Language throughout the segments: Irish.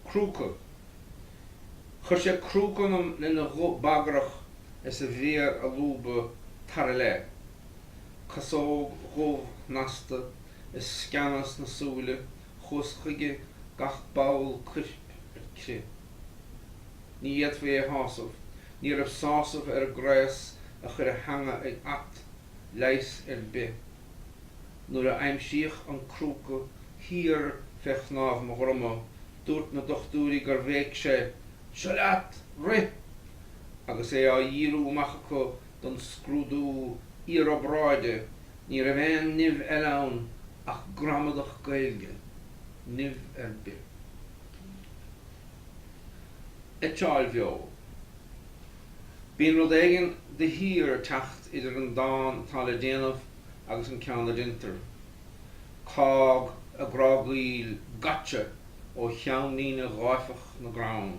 Crúca. Chuir sé crúca ionam lena ghuth bagrach is a mhéar á lúbadh tar i leith. Casóg dhubh shnasta is sceana sna súile, chuas chuige, gach ball cuirp ar crith. Ní fhéadfaí é a shásamh. Ní raibh sásamh ar an gcraos a chuir a theanga ag at. leigheas ar bith. Nuair a aimsíodh an crúca thiar fé chnámh mo dhroma, dúirt na dochtúirí gur bhéic sé, Seo leat! Rith! Agus é á dhíriú amach acu don scrúdú iarobráide, ní raibh aon nimh eile ann ach gramadach Gaeilge. Nimh ar bith. Eitseáil bheo. Bíonn rud éigin de shíor ag teacht idir an dán atá le déanamh agus an ceann a deintear. Cág ag grágaíl, gotcha! ó cheannlíne gháifeach na gcrann.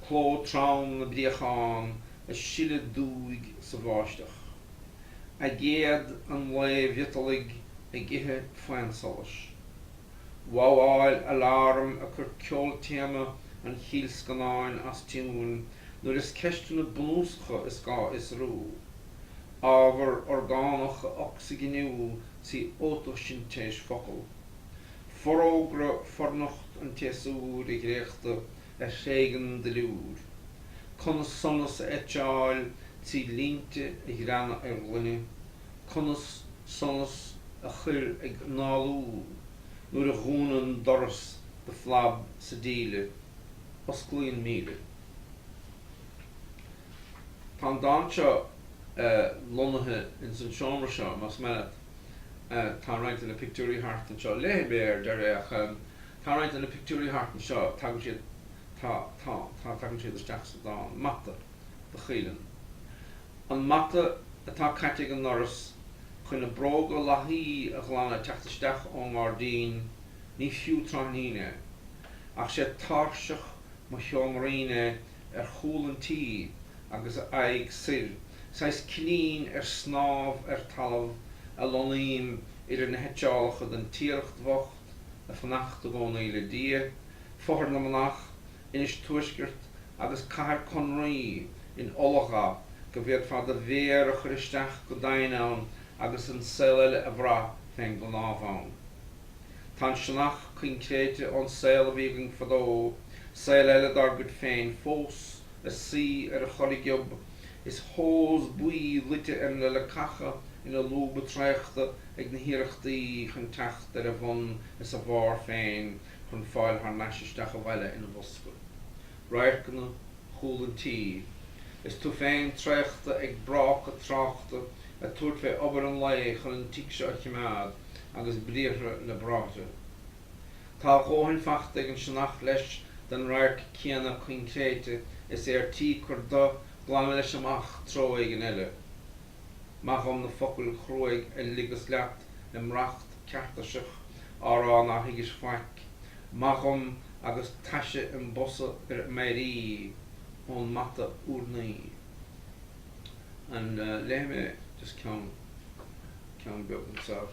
Cló trom na bpréachán ag sileadh dúigh sa bháisteach. Aigéad an lae mhiotalaigh ag ithe faonsolais. Wawáil aláraim ag cur ceoltéama an chill scannáin as tiúin. nuair is ceisteanna bunúsacha is gá a fhiosrú, ábhar orgánach a ocsaiginiú trí fhótaisintéis focal, forógra fornocht an tséasúir a dhréachtadh a thréigeann duilliúr, conas sonas a eitseáil trí línte a ghreanadh ar ghloine, conas sonas a chur ag análú nuair a dhúnann doras de phlab sa díle. Osclaíonn míle. Tá an dán seo lonnaithe ins an seomra seo, más maith leat. Tá roinnt de na pictiúirí thart anseo. Léifidh mé é ar deireadh ach tá roinnt de na pictiúirí thart anseo, tagann siad, tá, tá, tá, tagann siad isteach sa dán. Mata do Chaoileann. An mata atá caite ag an ndoras chun na bróga lathaí a ghlanadh ag teacht isteach ón ngairdín, ní fiú tráithnín é. ach sé táirseach mo sheoimrín é ar chúl an tí agus a aghaidh soir, saghas cillín ar snámh ar talamh a lonnaím idir na heitseálacha den Tiaracht bhocht, ag fanacht i gcónaí le Dia, Fothar na Manach, Inis Tuaisceart agus Cathair Conraoi in ola go bhféadfá do mhéar a chur isteach go doimhin ann agus an saol eile a bhrath fén gcnámh ann. Tá an sionnach coincréite ón saol a bhí againn fadó, saol eile dár gcuid féin, fós ag suí ar a chorragiob is hose buí luite ar na leacacha ina lúba traochta ag na hiarrachtaí chun teacht ar a bhun is a bharr féin chun fáil thar n-ais isteach abhaile ina bhosca radharcanna chúl an tí is tú féin traochta ag bráca tráchta ag tabhairt fé obair an lae chun an tigh seo a chimeád agus briathra le bráithre. Tá a dhóthain fachta ag an sionnach leis den radharc céanna coincréite is é ar tí cur de, glanadh leis amach treo éigin eile. Maith dhom na focail chruaidh a ligeas leat im racht ceartaiseach á rá nár thuigis faic. Maith dhom agus taise im bosa ar m'éirí ón mata urnaí. And léifidh mé just ceann, ceann beag anseo.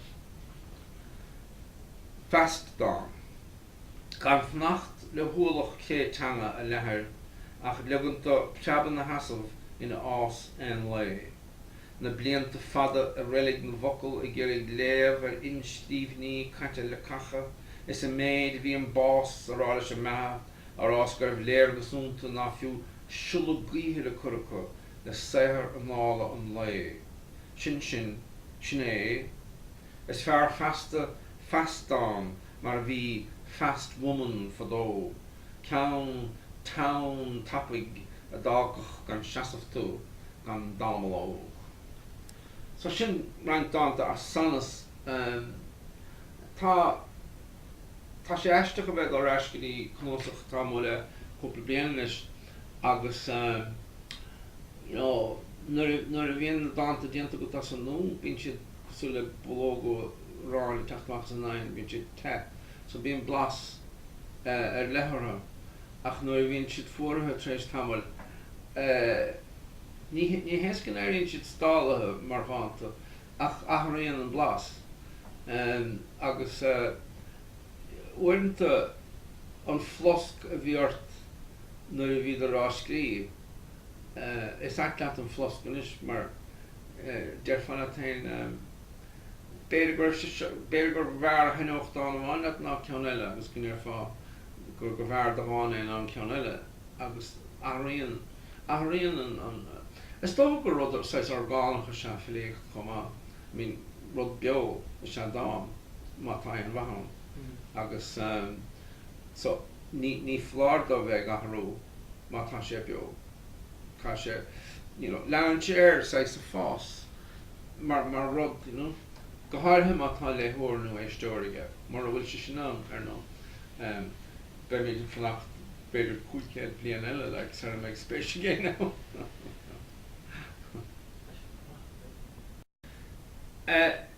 Fast dán. gan fanacht le hualach cré teanga a leathair ach ligean dó preabadh ina sheasamh ina fhás aon lae. Na blianta fada i reilig na bhfocal ag iarraidh léamh ar inscríbhinní caite leacacha is an méid a bhí an bás á rá leis an mbeatha a rá is go raibh léargas iontu ná fiú siolla gaoithe le cur acu le saothar anála an lae sin sin é is fearr feasta fast dán mar a bhí fast woman fadó, ceann teann tapaidh a d'fhágfadh gan seasamh tú, gan dallamullóg. So sin roinnt dánta as Sanas. Tá, tá sé aisteach a bheith ag dul ar ais go dtí cnuasach atá amuigh le cúpla bliain anois agus you know nuair a, nuair a bhíonn na dánta déanta agat as an nua, bíonn siad, cosúil le bollóga aráin ag teacht amach as an oigheann, bíonn siad te, so bíonn blas ar leith orthu, ach nuair a bhíonn siad fuaraithe tar éis tamaill, ní, ní hé is go n-éiríonn siad stálaithe mar dhánta, ach athraíonn an blas. Agus uaireanta an flosc a bhí ort nuair a bhíodar á scríobh, is ait leat an flosc anois mar Déarfá leat féin, b'fhéidir, gurbh fhearr a thaithneodh dán amháin leat ná ceann eile agus go ndéarfá gurbh fhearr de dhán é ná an ceann eile. Agus athraíonn, athraíonn an. Is dócha gur rud saghas orgánach is ea filíocht chomh maith. I mean, rud beo is ea dán, má tá aon mhaith ann. Agus, so, ní foláir dó bheith ag athrú má tá sé beo. tá sé, you know, leanann sé air saghas ag fás mar, mar rud, you know, go háirithe má tá léitheoir nó éisteoir aige, mura bhfuil sé sin ann, ar ndóigh, ehm, beimid ag fanacht b'fhéidir cúig chéad bliain eile, like, sara mbeidh spéis ag éinne ann.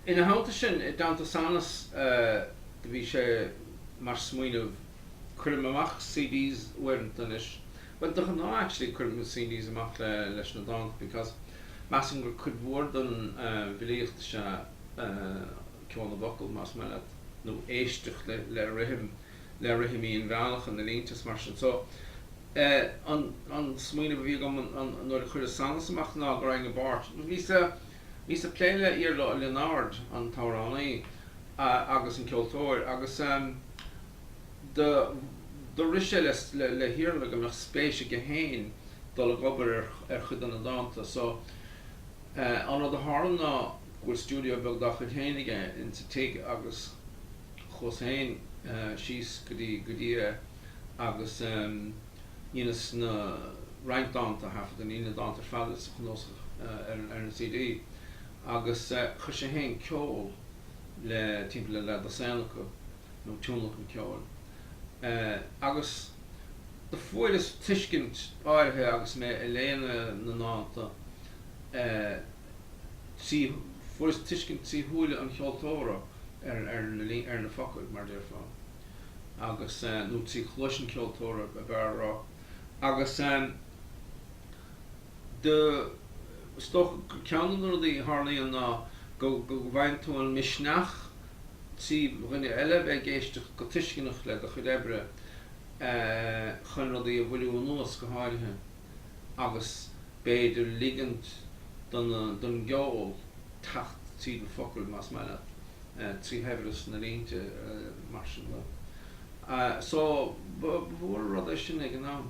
Ina theannta sin, i dteannta Sanas, do bhí sé mar smaoineamh, cuirim amach CDs uaireanta anois, bhuel, de ghnáth, actually, cuirim na CDs amach leis na dánta, because measann gur cuid mhór den bhfilíocht is ea ceol na bhfocal, más maith leat, nó éisteacht le rithim, le rithimí an bhealach, an na línte is mar sin. So. An smaoineamh a bhí agam nuair a cuireadh Sanas amach ná go raghainn i bpáirt. Bhíos ag plé le Iarla Ó Lionáird, an t-amhránaí agus an ceoltóir, agus do rith sé le hIarla go mbeadh spéis aige féin dul ag obair ar chuid de na dánta so. An rud a tharla ná go bhfuil stiúideo beag dá chuid féin aige insa tigh agus. chuas féin síos go dtí go dtí é agus dheineas na roinnt dánta a thaifead, na, na dánta ar fad sa chnuasach ar an CD. Agus chuir sé féin ceol le timpeall le dosaen acu, nó tionlacan ceoil. Agus do fuaireas tuiscint áirithe agus mé ag léamh na ndánta. trí, fuaireas tuiscint trí shúile an cheoltóra ar, ar na, ar na focail, mar a déarfá, agus eh, nó trí chluais an cheoltóra, ab fhearr a rá, agus em, do, is dócha gur ceann de na rudaí a tharlaíonn ná go, go bhfaigheann tú an misneach trí dhuine eile a bheith ag éisteacht go tuisceanach le do chuid oibre eh, chun rudaí a mhoilliú anuas, go háirithe. agus b'fhéidir ligint don don gceol teacht tríd na focail, más maith leat, trí shaibhreas na línte, mar sin de. So, ba mhór an rud é sin ag an am.